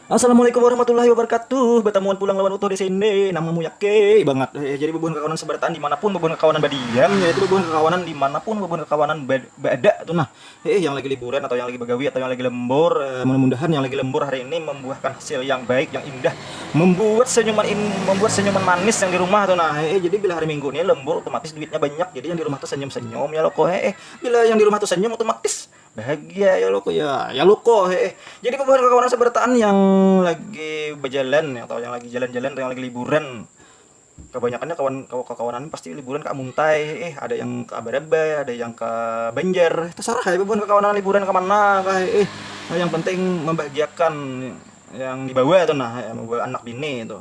Assalamualaikum warahmatullahi wabarakatuh Batamuan pulang lawan utuh di sini Nama mu yake bangat eh, Jadi bubuhan kakawanan sebarataan dimanapun bubuhan kakawanan badiam Yaitu bubuhan kakawanan dimanapun bubuhan kakawanan berada tu nah eh, Yang lagi liburan atau yang lagi bagawi atau yang lagi lembur eh, Mudah-mudahan yang lagi lembur hari ini membuahkan hasil yang baik yang indah Membuat senyuman in, membuat senyuman manis yang di rumah tu nah eh, Jadi bila hari minggu ni lembur otomatis duitnya banyak Jadi yang di rumah tu senyum-senyum ya loko eh, Bila yang di rumah tu senyum otomatis Bahagia ya luko ya ya luko heeh jadi kawan kawan asa barataan yang lagi bajalan atau yang lagi jalan jalan atau yang lagi liburan kabanyakan nya kawan kakawanan ni pasti liburan ka muntai heeh ada yang ka barabai ada yang ka banjar tasarah haja bubuhan kakawanan liburan kamana kah heeh yang penting mambahagiakan yang dibawa tu nah heeh mambawa anak bini tu.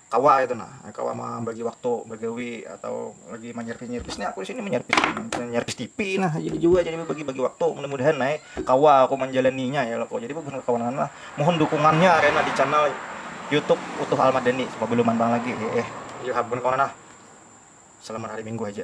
kawa itu nah kawa mambagi waktu bagawi atau lagi manyarpis nyarpis ni aku di sini manyarpis manyarpis TV nah jadi jua jadi bagi bagi waktu mudah mudahan ai kawa aku manjalaninya ya laku jadi bubuhan kawan kawan lah mohon dukungannya kena di channel YouTube utuh al madani supaya belum mantang lagi heeh ya bubuhan kawan lah selamat hari minggu haja.